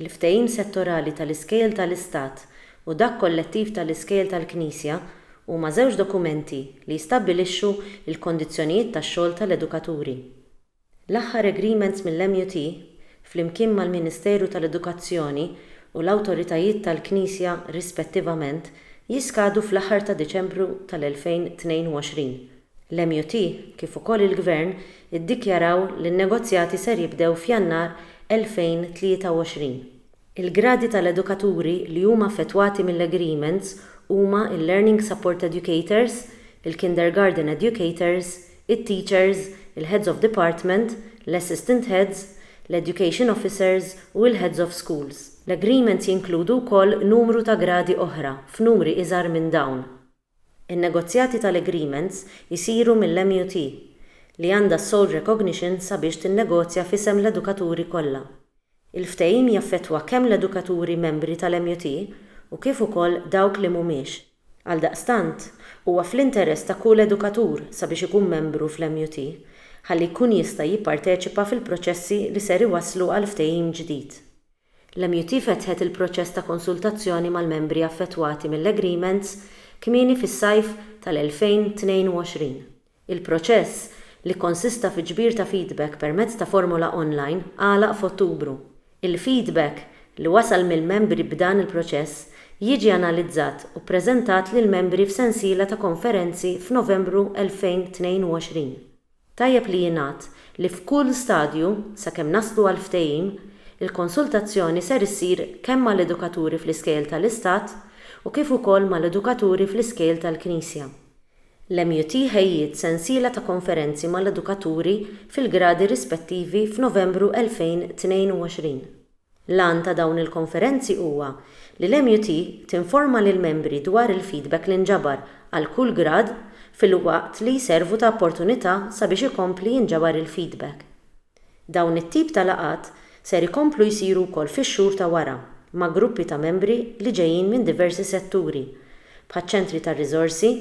Il-ftehim settorali tal-iskejjel tal-Istat u dak kollettiv tal-iskejjel tal-Knisja huma żewġ dokumenti li jistabbilixxu l-kondizzjonijiet tax-xogħol tal-edukaturi. L-aħħar agreements mill-MUT, flimkien mal-Ministeru tal-Edukazzjoni u l-awtoritajiet tal-Knisja rispettivament, jiskadu fl-aħħar ta' Diċembru tal-2022. L-MUT, kif ukoll il-Gvern iddikjaraw li n-negozjati ser jibdew f'Jannar 2023. Il-gradi tal-edukaturi li huma affettwati mill-agreements huma l-Learning Support Educators, il-Kindergarten Educators, it-Teachers, il-Heads of Department, l-Assistant Heads, l-Education Officers u l-Heads of Schools. L-agreements jinkludu wkoll numru ta' gradi oħra f'numri iżgħar minn dawn. In-negozjati tal-agreements isiru mill-MUT, li għandha s-sole recognition sabiex tinnegozja f'isem l-edukaturi kollha. Il-ftehim jaffettwa kemm l-edukaturi membri tal-MUT u kif ukoll dawk li mhumiex. Għaldaqstant, huwa fl-interess ta' kull edukatur sabiex ikun membru fl-MUT, ħalli jkun jista' jipparteċipa fil-proċessi li ser iwasslu għal ftehim ġdid. L-MUT fetħet il-proċess ta' konsultazzjoni mal-membri affettwati mill-agreements kmieni fis-sajf tal-2022. Il-proċess, li kkonsista fi ġbir ta' feedback permezz ta' formola online, għalaq f'Ottubru. Il-feedback li wasal mill-membri b'dan il-proċess jiġi analizzat u ppreżentat lill-membri f'sensiela ta' konferenzi f'Novembru 2022. Tajjeb li jingħad li f'kull stadju, sakemm naslu għal ftehim, il-konsultazzjoni ser issir kemm mal-edukaturi fl-iskejjel tal-Istat u kif ukoll mal-edukaturi fl-iskejjel tal-Knisja. L-MUT ħejjiet sensiela ta' konferenzi mal-edukaturi fil-gradi rispettivi f'Novembru 2022. L-għan ta' dawn il-konferenzi huwa li l-MUT tinforma lill-membri dwar il-feedback li nġabar għal kull grad filwaqt li jservu ta' opportunità sabiex ikompli jinġabar il-feedback. Dawn it-tip ta' laqgħat ser ikomplu jsiru wkoll fix-xhur ta' wara ma' gruppi ta' membri li ġejjin minn diversi setturi, bħaċ-ċentri tar-riżorsi,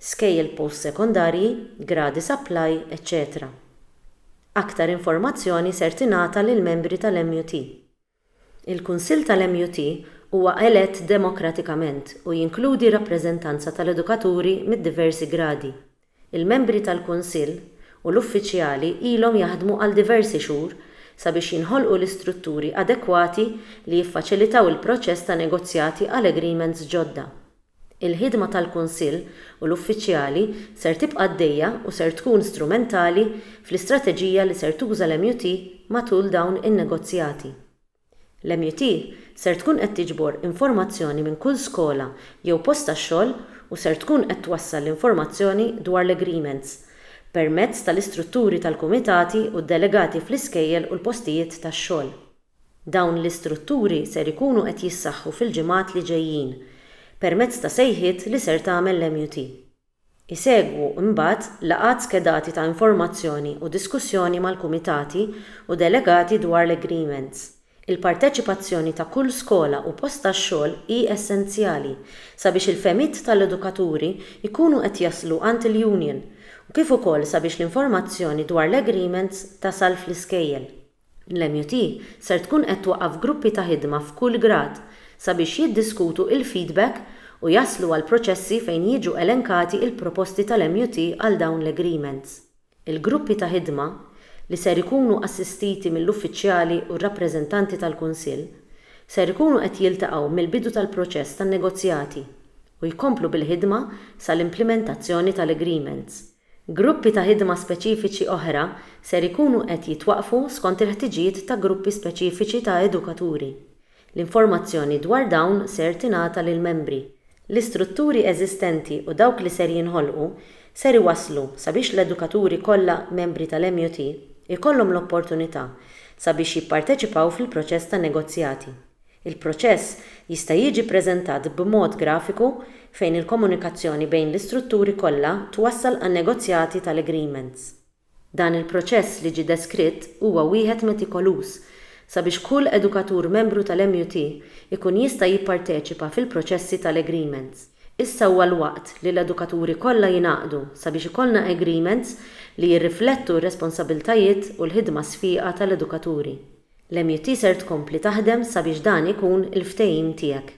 skejjel post-sekondarji, gradi supply, eċċetera. Aktar informazzjoni ser tingħata lill-membri tal-MUT. Il-Kunsill tal-MUT huwa elett demokratikament u jinkludi rappreżentanza tal-edukaturi mid-diversi gradi. Il-membri tal-Kunsill u l-uffiċjali ilhom jaħdmu għal diversi xhur sabiex jinħolqu l-istrutturi adekwati li jiffaċilitaw il-proċess ta' negozjati għal agreements ġodda. Il-ħidma tal-Kunsill u l-uffiċjali ser tibqa' għaddejja u ser tkun strumentali fl-istrateġija li ser tuża l-MUT matul dawn in-negozjati. L-MUT ser tkun qed tiġbor informazzjoni minn kull skola jew post tax-xogħol u ser tkun qed twassal l-informazzjoni dwar l-agreements permezz tal-istrutturi tal-kumitati u d-delegati fl-iskejjel u l-postijiet tax-xogħol. Dawn l-istrutturi ser ikunu qed jissaħħu fil-ġimgħat li ġejjin permezz ta' sejħiet li ser tagħmel l-MUT. Isegwu imbagħad laqgħat skedati ta' informazzjoni u diskussjoni mal-kumitati u delegati dwar l-agreements. Il-parteċipazzjoni ta' kull skola u post tax-xogħol hi essenzjali sabiex il-fehmiet tal-edukaturi jkunu qed jaslu għand il-union u kif ukoll sabiex l-informazzjoni dwar l-agreements tasal fl-iskejjel. L-MUT ser tkun qed twaqqaf gruppi ta' ħidma f'kull grad sabiex jiddiskutu il-feedback u jaslu għal proċessi fejn jiġu elenkati il-proposti tal-MUT għal dawn l-agreements. Il-gruppi ta' ħidma, li ser ikunu assistiti mill-uffiċjali u r-rappreżentanti tal-Kunsill, ser ikunu qed jiltaqgħu mill-bidu tal-proċess tan-negozjati u jkomplu bil-ħidma sal-implimentazzjoni tal-agreements. Gruppi ta' ħidma speċifiċi oħra ser ikunu qed jitwaqqfu skont il-ħtiġijiet ta' gruppi speċifiċi ta' edukaturi. L-informazzjoni dwar dawn ser tingħata lill-membri. L-istrutturi eżistenti u dawk li ser jinħolqu ser iwasslu sabiex l-edukaturi kollha membri tal-MUT ikollhom l-opportunità sabiex jipparteċipaw fil-proċess ta' negozjati. Il-proċess jista' jiġi ppreżentat b'mod grafiku fejn il-komunikazzjoni bejn l-istrutturi kollha twassal għan-negozjati tal-agreements. Dan il-proċess li ġie deskritt huwa wieħed metikoluż sabiex kull edukatur membru tal-MUT ikun jista' jipparteċipa fil-proċessi tal-agreements. Issa huwa l-waqt li l-edukaturi kollha jingħaqdu sabiex ikollna agreements li jirriflettu r-responsabbiltajiet u l-ħidma sfieqa tal-edukaturi. L-MUT ser tkompli taħdem sabiex dan ikun il-ftehim tiegħek.